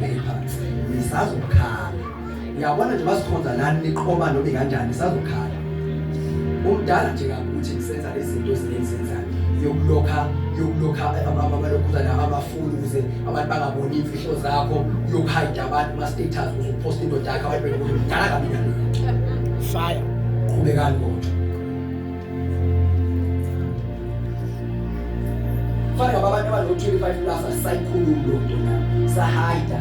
Phepha nisazokhala. Uyabona nje basikhonza lani niqoma noma kanjani nisazokhala. Umdala nje kakuthi nisenza izinto ezinenzenza yokulokha yokulokha abalokhuza laba abafuni ukuze abantu bangaboni imfihlo zakho yokuhide abantu kuma status ukuze upost indoda yakho abantu bekuthi mdala kabi nalo. Fire. Qhubekani kodwa. Fana babantu abano-25 plus asisayikhulumi loo nto na sahayida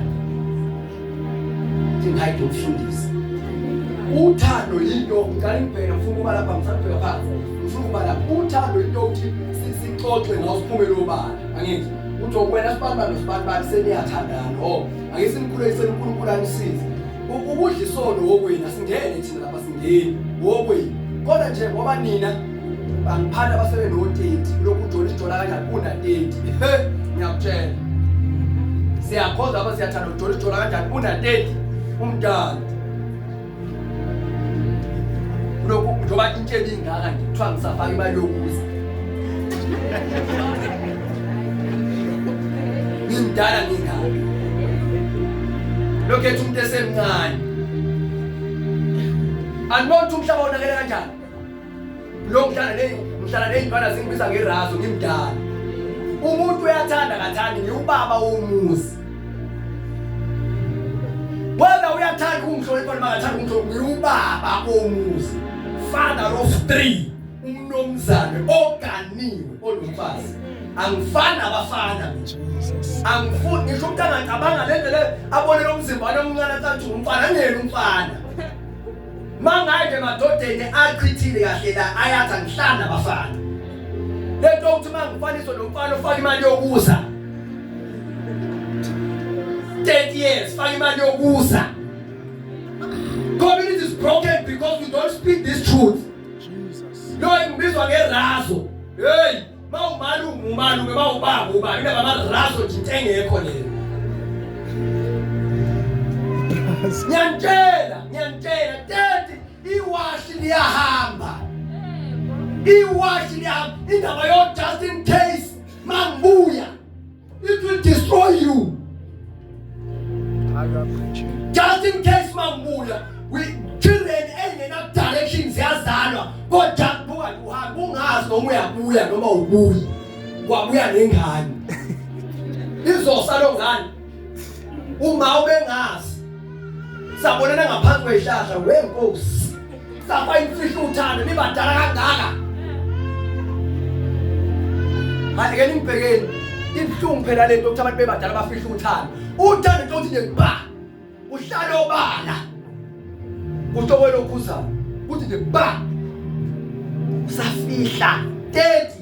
ndingayide umfundisi uthando yinto ngicala ngibheka ngifuna ukuba lapha ngifuna kubheka phansi ngifuna ukuba lapha uthando yinto ukuthi sixoxe ngawo siphume lobala angithi uthi wena sibantu bantu sibantu bantu seniyathandana o oh, ake simkhulekisele unkulunkulu anisize Ukudla isono wokwenu asingene thina lapha singeni wokwenu. Kodwa nje ngoba nina bangiphanda basebe no 30 lokhu ujola ijola kanjani kuna 30. He ngiyakutshela. Siyakhoza lapha siyathanda ujola ijola kanjani kuna 30 umdala. Lokhu njengoba intshebe ingaka nje kuthiwa ngisafaka imali yokuza. ngimdala ngingani lokhu ethi umuntu esemncane anibona ukuthi umhlaba wonakele kanjani lo mhlala le mhlala nezintwana zingibiza ngerazo ngimdala umuntu uyathanda kathandi ngiwubaba womuzi wena uyathanda ukumhlonipha noma akathanda ukumhlonipha ngiwubaba womuzi father of three umnomzane oganiwe olumfazi angifani abafana angifuni ngisho umuntu angacabanga le ndlela abone lo mzimba wami omncane acathi umfana angiyena umfana mangaye emadodeni achithile kahle la ayathi angihlani abafana le nto ukuthi uma ngifaniswe nomfana ofaka imali yokuza 30 years faka imali yokuza community is broken because we don't speak this truth Lo engibizwa ngerazo. Hey, mawumali ungumali ke mawubaba uba into bamarazo nje into engekho leyo. Ngiyantshela, ngiyantshela tete iwashi liyahamba. Iwashi liyahamba indaba yo Justin Case mangibuya It will destroy you. Just in case mabuya we children engena direction ziyazalwa kodwa kubuka uhamba ungazi noma uyabuya noma ubuyi wabuya nengane izosa lo ngane uma ubengazi sabonana ngaphansi kwehlahla wenkosi Sakwa imfihlo uthando nibadala kangaka. Manje ke nimbhekeni ibuhlungu phela lento ukuthi abantu bebadala bafihla uthando. Uthando nje uthi nje ba. Uhlala obala. Kusho wena okhuzayo. Uthi nje ba. Usafihla 30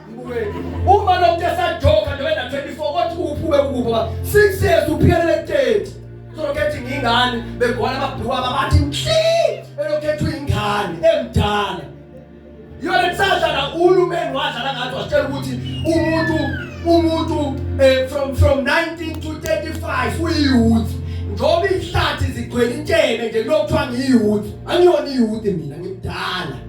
Uma lo muntu esajoka noma ena 24 kothi uphume kubo 6 years uphelele 30. Sokhetha ingane begwala ababhuka abathi nhle elokhetha ingane emdala. Yona kusasha la uhulumeni wadlala ngathi wasitshela ukuthi umuntu umuntu eh, from from 19 to 35 uyiyouth njengoba ihlathi zigcwele intshebe nje lokuthiwa ngiyiyouth angiyona iyouth mina ngimdala